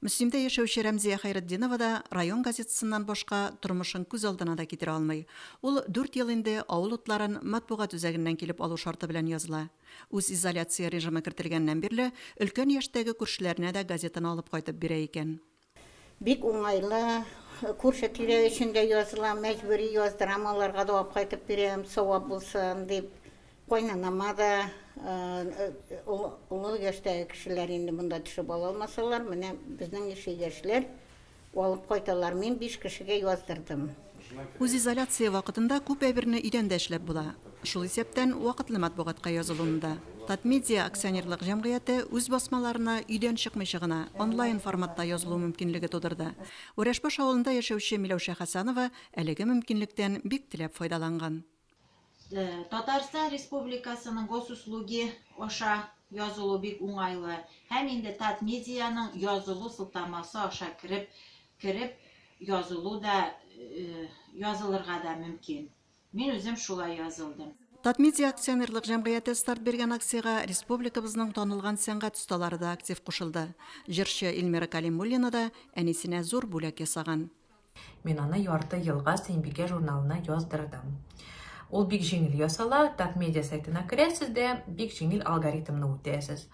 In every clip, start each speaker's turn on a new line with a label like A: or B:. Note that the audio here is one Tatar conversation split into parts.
A: Мөслимдә яшәүче Рәмзия Хәйретдинова да район газетасыннан башка тормышын күз алдына да китерә алмый. Ул дүрт ел инде авыл утларын матбугат үзәгеннән килеп алу шарты белән языла. Үз изоляция режимы кертелгәннән бирле өлкән яшьтәге күршеләренә дә газетаны алып кайтып бирә икән. Бик
B: уңайлы, күрше-тирә өчен дә язылам, мәҗбүри яздырам, аларга да алып кайтып бирәм, савап булсын дип. Кайнанама да, олы яшьтәге кешеләр инде монда төшеп ала алмасалар, менә безнең ничә яшьләр алып кайталар. Мин биш кешегә яздырдым. Үзизоляция
A: вакытында күп әйберне өйдән дә эшләп була. Шул исәптән вакытлы матбугатка язылуны да. Татмедиа акционерлык җәмгыяте үз басмаларына өйдән чыкмыйча гына, онлайн форматта язылу мөмкинлеге тудырды. Үрәшбаш авылында яшәүче Миләүшә Хәсанова әлеге мөмкинлектән бик теләп файдаланган.
C: Татарстан Республикасының Госуслуги аша язылу бик уңайлы һәм инде Татмедианың язылу сылтамасы аша кереп кереп язылу да язылырга да мөмкин. Мин үзем шулай язылдым. Татмедиа акционерлык
A: җәмгыяте старт биргән акциягә республикабызның танылган сәнгать осталары да актив кушылды. Җырчы Ильмира Калимуллина да әнисенә зур бүләк ясаган. Мин аны
D: ярты елга Сәйбикә журналына яздырдым. Ул бик җиңел ясала, так медиа сайтына керәсез дә, бик җиңел алгоритмны үтәсез.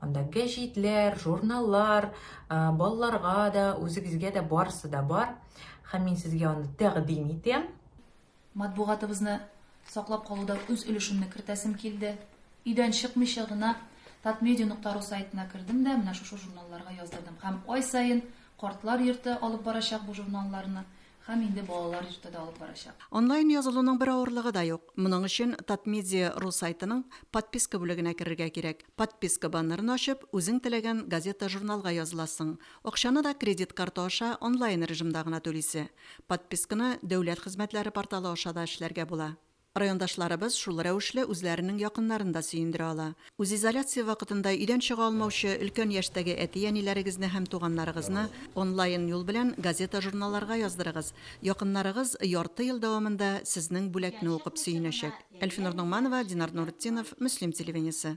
D: Анда гәҗитләр, журналлар, балаларга да, үзегезгә дә барысы да бар. Һәм мин сезгә аны тәкъдим итәм. Матбугатыбызны
E: саклап калуда үз өлешемне кертәсем килде. Өйдән чыкмыйча гына Татмедиа нокта ру сайтына кердем дә, менә шушы журналларга яздырдым. Һәм ай саен Картлар йорты алып барачак бу журналларны, һәм инде Балалар йорты да алып барачак. Онлайн язылуның
A: бер авырлыгы да юк. Моның өчен Татмедиа ру сайтының Подписка бүлегенә керергә кирәк. Подписка баннерын ачып, үзең теләгән газета-журналга языласың. Акчаны да кредит карты аша онлайн режимда гына түлисе. Подписканы Дәүләт хезмәтләре порталы аша да эшләргә була. Райондашларыбыз шул рәвешле үзләренең якыннарын да сөендерә ала. Үзизоляция вакытында өйдән чыга алмаучы өлкән яшьтәге әти-әниләрегезне һәм туганнарыгызны онлайн юл белән газета-журналларга яздырыгыз. Якыннарыгыз ярты ел дәвамында сезнең бүләкне укып сөенәчәк. Әлфинур Ногманова, Динар Нуретдинов, Мөслим телевидениесе.